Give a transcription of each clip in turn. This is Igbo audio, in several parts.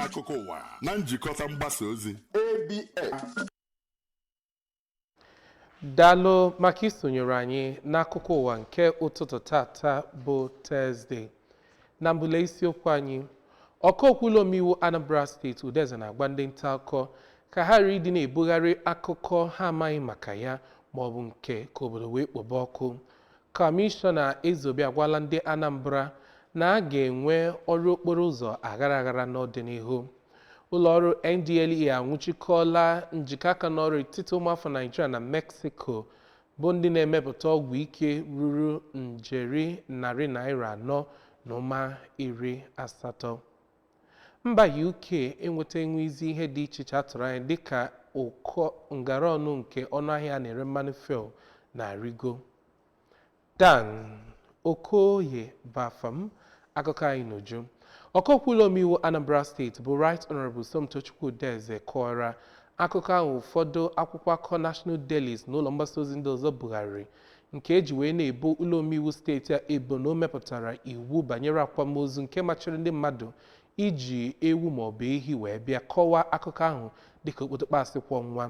akụkọ ụwa na njikọta mgbasa ozi ABS. daalụ maka isonyere anyị n'akụkọ ụwa nke ụtụtụ tata bụ tọzde na mbụ le isiokwu anyị ọkaokwu ụlọ omeiwu anambra steeti udeze na-agwa ndị nta akụkọ ka ha ghara ịdị na-ebugharị akụkọ ha amaghị maka ya ma ọ bụ nke ka obodo wee kpobe ọkụ kọmishọna ezeobi agwala ndị anambra na a ga-enwe ọrụ okporo ụzọ aghara aghara n'ọdịnihu ụlọọrụ NDLEA anwụchikọọla njikọ aka n'ọrụ etiti ụmụafọ Naịjirịa na Meksiko bụ ndị na-emepụta ọgwụ ike ruru njeri narị naira anọ na ụma iri asatọ mba UK enweta enwezi ihe dị iche iche a tụrụ anya dịka ụkọ ngara ọnụ nke ọnụahịa a na-ere mmanụ fuel na-arịgo Dan Okoye bụ afa m akụkọ anyị n'uju ọkaokwu ụlọ omeiwu Anambra steeti bụ Right Honourable Somtochukwu Udeze kọwara akụkọ ahụ ụfọdụ akwụkwọ akụkọ National Dailies na ụlọ mgbasa ozi ndị ọzọ bugharịrị nke e ji wee na-ebo ụlọ omeiwu steeti a ebo na o mepụtara iwu banyere akwamozu nke machiri ndị mmadụ iji ewu maọbụ ehi wee bịa kọwaa akụkọ ahụ dịka okpotokpo asị kwọ nwa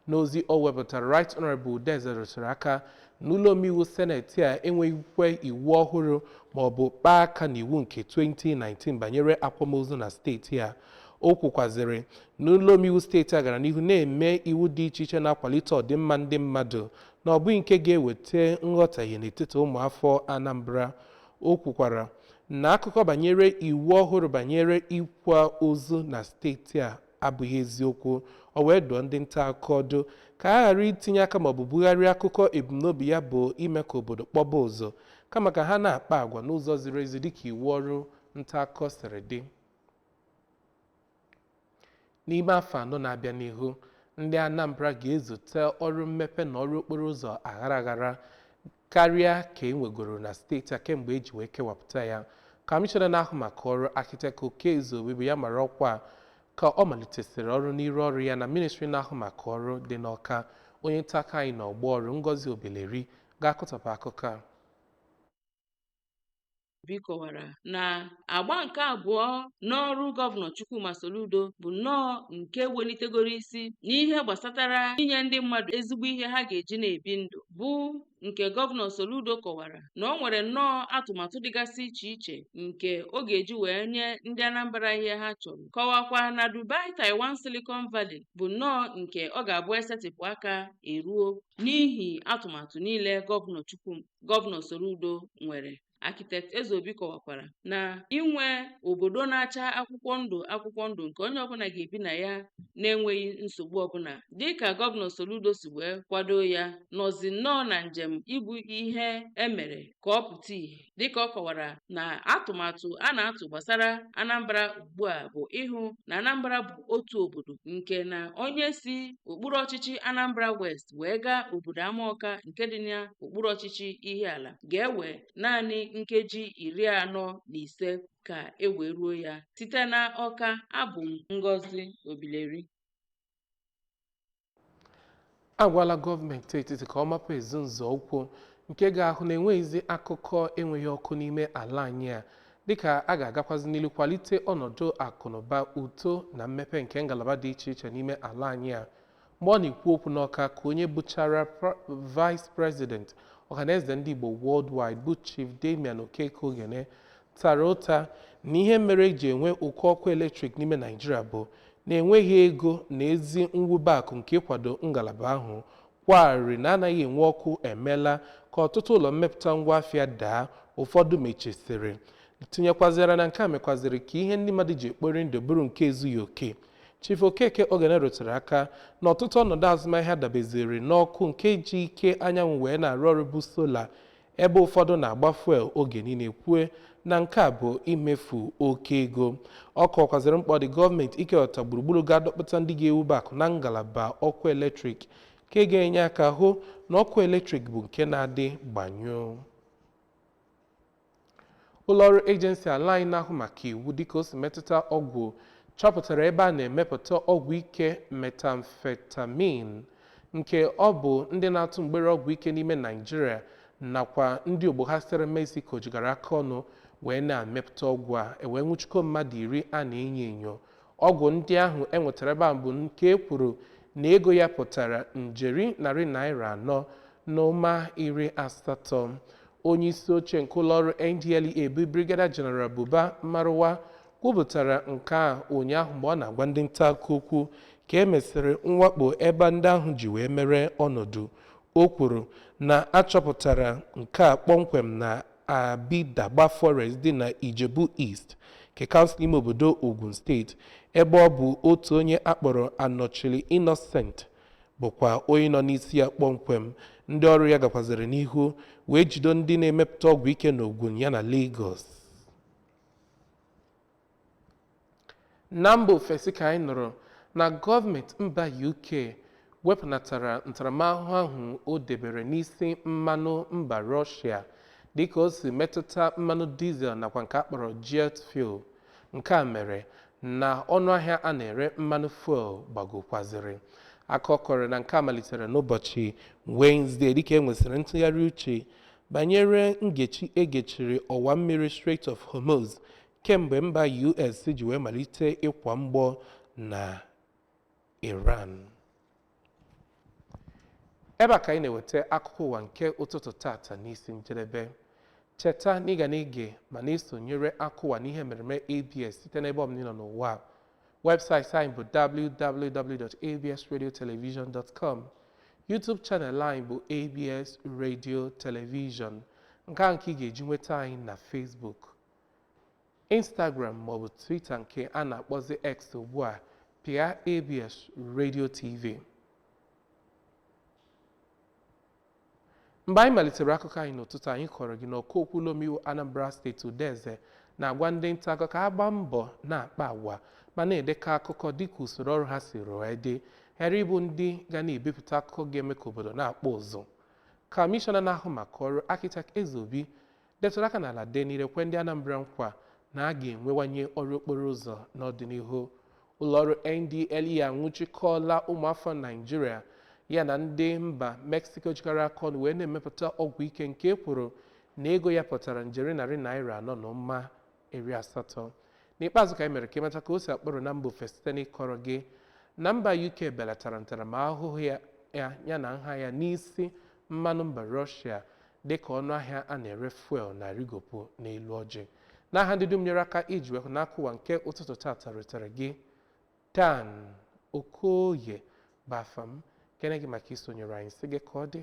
n'ozi o wepụtara Right Honourable Udeze rụtụrụ aka na ụlọ omeiwu seneti a enweghịkwa iwu ọhụrụ maọbụ kpaa aka n'iwu nke 2019 banyere akwamozu na steeti a o kwukwazịrị na ụlọ omeiwu steeti a gara n'ihu na-eme iwu dị iche iche na-akwalite ọdịmma ndị mmadụ na ọ bụghị nke ga-eweta nghọtahie n'etiti ụmụafọ Anambra O kwukwara na akụkọ banyere iwu ọhụrụ banyere ịkwa ozu na steeti a abụghị eziokwu. O wee dụọ ndị nta akụkọ ọdụ ka ha ghara itinye aka maọbụ bugharịa akụkọ ebumnobi ya bụ ime ka obodo kpọba ụzụ, kama ka ha na-akpa agwa n'ụzọ ziri ezi dịka iwu ọrụ nta akụkọ siri dị. N'ime afọ anọ na-abịa n'ihu, ndị Anambra ga-ezute ọrụ mmepe na ọrụ okporo ụzọ aghara aghara karịa ka e nwegoro na steeti a kemgbe e ji wee kewapụta ya. Kọmishọna na-ahụ maka ọrụ Architect Okey Ezeobi bụ ya mara ọkwa a ka ọ malitesịrị ọrụ n'iru ọrụ ya na ministri na-ahụ maka ọrụ dị n'Awka. Onye nta akụkọ anyị n'ọgbọ ọrụ Ngozi Obileri ga-akọtọpụ akụkọ a. Obi kọwara na agba nke abụọ n'ọrụ gọvanọ Chukwuma Soludo bụ nnọọ nke welitegoro isi n'ihe gbasatara inye ndị mmadụ ezigbo ihe ha ga-eji na-ebi ndụ bụ nke gọvanọ Soludo kọwara na o nwere nnọọ atụmatụ dịgasị iche iche nke ọ ga-eji wee nye ndị Anambra ihe ha chọrọ kọwakwa na Dubai Taiwan Silicon Valley bụ nnọọ nke ọ ga-abụ esetịpụ aka eruo n'ihi atụmatụ niile gọvanọ Chukwuma gọvanọ Soludo nwere Architect Ezeobi kọwakwara na inwe obodo na-acha akwụkwọ ndụ akwụkwọ ndụ nke onye ọbụla ga-ebi na ya na-enweghị nsogbu ọbụla dịka gọvanọ Soludo si wee kwado ya nọzi nnọọ na njem ịbụ ihe emere ka ọ pụta ìhè dịka ọ kọwara na atụmatụ a na-atụ gbasara Anambra ugbu a bụ ịhụ na Anambra bụ otu obodo nke na onye si okpuru ọchịchị Anambra West wee gaa obodo Amaọka nke dị n'okpuru ọchịchị Ihiala ga-ewe naanị nkeji iri anọ na ise ka e wee ruo ya. Site na Ọka, abụ m Ngozi Obileri. agwala gọọmenti etiti ka ọ mapụ ezi nzọụkwụ nke ga-ahụ na enweghịzi akụkọ enweghị ọkụ n'ime ala anyị a dịka a ga-agakwazi n'iru kwalite ọnọdụ akụnụba uto na mmepe nke ngalaba dị iche iche n'ime ala anyị a Mgbe ọ na-ekwu okwu n'Ọka ka onye bụchara Vice President Ọhaneze Ndị Igbo Worldwide bụ Chief Damian Okeke Ogene tara ụta na ihe mere eji enwe ụkọ ọkụ eletrik n'ime Naijiria bụ na enweghị ego na ezi mwube akụ nke ịkwado ngalaba ahụ kwaa arịrị na anaghị enwe ọkụ emeela ka ọtụtụ ụlọ mmepụta ngwa afịa daa ụfọdụ mechisịrị tinyekwazịara na nke a mekwazịrị ka ihe ndị mmadụ ji ekpori ndụ bụrụ nke ezughị oke Chief Okeke Ogene rụtụrụ aka na ọtụtụ ọnọdụ azụmahịa dabeziri n'ọkụ nke ji ike anyanwụ wee na-arụ ọrụ bụ sola ebe ụfọdụ na-agba fuel oge niile kwue na nke a bụ imefu oke ego. Ọ kọwakwazịrị mkpa ọ dị gọọmenti ikewata gburugburu ga-adọkpụta ndị ga-ewube akụ na ngalaba ọkụ eletrik nke ga-enye aka hụ na ọkụ eletrik bụ nke na-adị gbanyụụ. Ụlọọrụ ejensi ala anyị na-ahụ maka iwu dịka o si metụta ọgwụ chọpụtara ebe a na-emepụta ọgwụ ike methamphetamine nke ọ bụ ndị na-atụ mgbere ọgwụ ike n'ime Naịjirịa nakwa ndị ogbo ha sitere Mexico jikọrọ aka ọnụ wee na-emepụta ọgwụ a ewee nwụchikọọ mmadụ iri a na-enyo enyo Ọgwụ ndị ahụ e nwetara ebe ahụ bụ nke e kwuru na ego ya pụtara njeri narị naịra anọ na ụma iri asatọ. Onye isi oche nke ụlọọrụ NDLEA bụ Brigadier General Buba Marwa kwupụtara nke a ụnyaahụ mgbe ọ na-agwa ndị nta akụkọ okwu ka e mesịrị mwakpo ebe ndị ahụ ji wee mere ọnọdụ. O kwuru na a chọpụtara nke a kpọmkwem na Abidagba Forest dị na Ijebu East nke kansụl ime obodo Ogun steeti ebe ọ bụ otu onye akpọrọ Anọchili Innocent bụkwa onye nọ n'isi ya kpọmkwem. Ndị ọrụ ya gakwazịrị n'ihu wee jido ndị na-emepụta ọgwụ ike n'Ogun yana Lagos. Na mba ofesi ka anyị nụrụ na gọọmenti mba UK wepụnatara ntaramahụhụ ahụ o debere n'isi mmanụ mba Rọshịa dịka o si metụta mmanụ dizel nakwa nke a kpọrọ jet fuel. Nke a mere na ọnụahịa a na-ere mmanụ fuel gbagokwaziri. Akụkọ kọrọ na nke a malitere n'ụbọchị Wenezdee dịka e nwesịrị ntụgharị uche banyere ngechi e gechiri ọwa mmiri Strait of Hormuz kemgbe mba US ji wee malite ịkwa mgbọ na Iran ebe a ka anyị na-eweta akụkọ ụwa nke ụtụtụ tata n'isi njedebe cheta na ị ga na-ege ma na-esonyere akụwa n'ihe mmereme ABS site n'ebe ọbụla ị nọ n'ụwa webụsaịtị anyị bụ www.absradiotelevision.com YouTube channel anyị bụ ABS Radio Television nke a nke ị ga-eji nweta anyị na Facebook Instagram maọbụ Twitter nke a na-akpọzi X ugbu a pịa ABS Radio TV. Mgbe anyị malitere akụkọ anyị n'ụtụtụ anyị kọrọ gị na ọkaokwu ụlọomeiwu Anambra steeti Udeze na-agwa ndị nta akụkọ ka ha gbaa mbọ na-akpa agwa ma na-edekọ akụkọ dịka usoro ọrụ ha siri wee dị ghara ịbụ ndị ga na-ebipụta akụkọ ga-eme ka obodo na-akpọ ụzụ. Kamishọna na-ahụ maka ọrụ Architect Ezeobi detụrụ aka n'ala dee n'ire kwe ndị Anambra nkwa na a ga-enwewanye ọrụ okporo ụzọ n'ọdịnihu. Ụlọọrụ NDLEA anwụchikọọla ụmụafọ Naịjirịa ya na ndị mba Mexico jikọrọ aka ọnụ wee na-emepụta ọgwụ ike nke e kwuru na ego ya pụtara njeri narị naira anọ na ụma iri asatọ n'ikpeazụ ka anyị mere ka ị mata ka o si akpọtụ na mba ofesi site n'ịkọrọ gị na mba uk belatara ntaramahụhụ ya na nha ya n'isi mmanụ mba rọshia dịka ọnụ ahịa a na-ere fuel na-arịgopụ n'elu ọjị n'aha ndị dum nyere aka iji wee hụ na akụkọ ụwa nke ụtụtụ tata rutere gị dan okoye bụ afa m kene gị maka isonyere anyị sị gị ka ọ dị